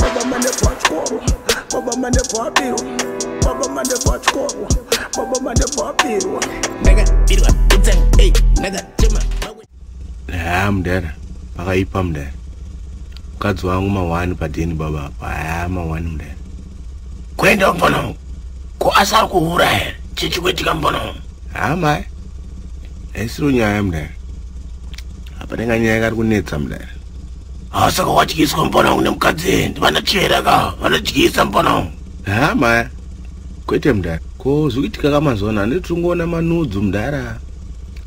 Baba mane pachikoro, baba mane pabirwa, baba mane pachikoro, baba mane pabirwa. Ndakabirwa pizza, hey, ndakachema. Haa mudara, pakaipa mudara. Mukadzi wangu mawani padeni baba apa, haa mawani mudara. Kwenda mbono, ko asari kuhura here, chichi kwetika mbono. Haa mai, haisiro nyaya mudara. Apa ndinga nyaya kari kunetsa mudara. Ah, saka wadyiswa mupana wangu nemukadzi endi vanochera ka vanodyisa mupana wangu ha maya kwete mudhara ko zvikuitika ka mazuva ano handiti tiri kungoona manudzu mudhara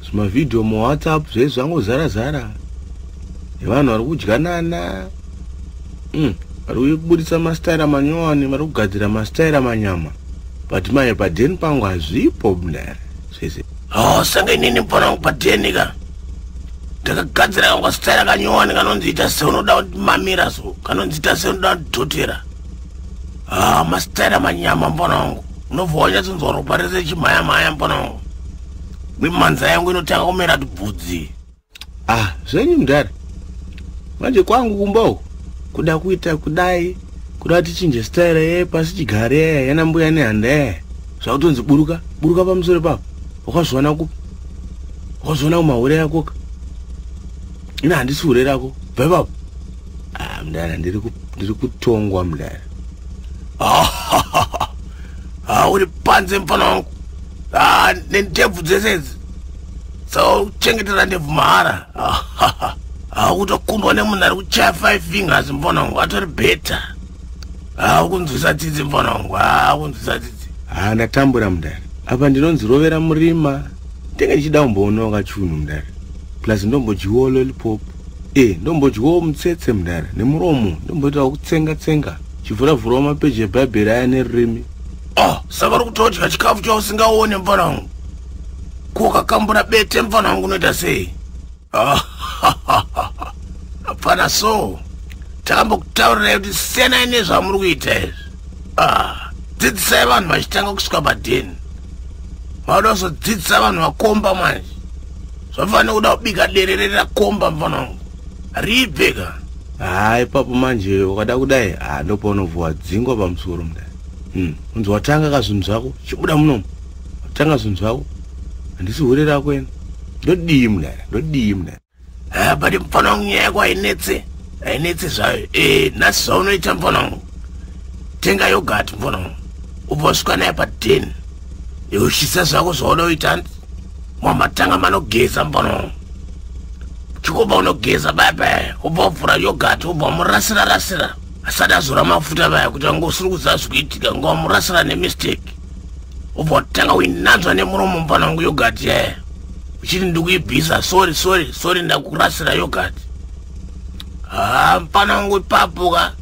zvimavhidhiyo muwhatsapp zvaizvi zvangozara zara nevanhu vari kudyanana mm, vari mm, kuburitsa mastaira manyowani vari kugadzira mastaira manyama but maye padeni pangu hazvipo mudhara zvese oh senge inini pona wangu padna ka ndakagadzira kangwa staira kanyowani kanonzi ita seunoda kuti mamira so kanonzi ita seunoda kuti dhotera ah mastaira manyama mpona wangu unobva wanyatsonzwa ropa rese chimhayamhaya mpona wangu mimanza yangu inotanga kumera tibvudzi ah zvenyu mudhara manje kwangu kumbawo kuda kuita kudai kuda tichinje style ye pasi chigare ye yana mbuya ne handa ye zvakutonzi buruka buruka pamusoro papo wakazviona ku wakazviona kumahure yako ka ina handisi hure rako bva ipapo ah, mdara ndiri kutongwa mdara ah, uri panze mfana wangu ah, nendebvu dzese idzi sauchengetera ndebvu mahara akutokundwa nemunhu ari kuchaya five fingers mfana wangu atori better akunzwisa tsitsi mfana wangu akunzwisa tsitsi ha ndatambura mdara apa ndinonzi rovera murima ndenge ndichida kumboonawo kachunhu mdara plus ndombojiwo lolipopu e ndombodyawo mutsetse mudare nemuromo ndomboitawo kutsenga tsenga chivhura vhurawo mapeji ebhaibheri aya nerurimi ah saka uri kutodya chikafu chausingaone mfana wangu kokakambura bete mfana wangu unoita sei ah, mfana so takambokutaurirai kuti siyanai nezvamuri kuita izvi ah, dzidzisai vanhu vachitanga kusvika padheni vanoda kuzodzidzisa vanhu vakomba manje zvafanira kuda kubika derere rakomba mfana wangu ribve ka haa ipapo manje ukada kudai haa ndopaunovhuwa dzingwa pamusoro mudai hmm, unzi watanga ka zvinhu zvako chibuda munomu watanga zvinhu zvako handisi hure rako ena ndodii mudai ndodii mudai haa but mfana wangu nyaya yako hainetse hainetse zvayo e nhasi zvaunoita mfana wangu tenga yogati mfana wangu ubva usvika naye paden yeushisa zvako zvauda uita hanti mamatanga manogeza mbono chikoba unogeza baya baya ubva wavhura yogati ubva wamurasira rasira asati azora mafuta vaya kuti vanga usiri kuziva zvikuitika nga wamurasira nemistake ubva watanga uinanzva nemuromo mvana wangu yogati yaya uchiti ndikuibvisa sori sori sori ndakurasira yogati haa mfana wangu ipapo ka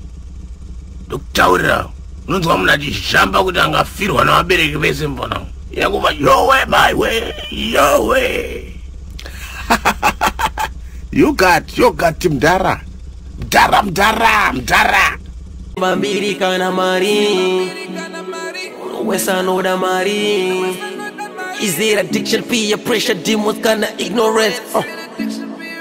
ndokutaurira unonzwa munhu achizhamba kuti angafirwa navabereki vese mfana wangu yakuva yowe maiwe yowe you got you got mdara mdara mdara mdara vambiri kana mari wesanoda mari is there addiction fear pressure demons kana ignorance uh.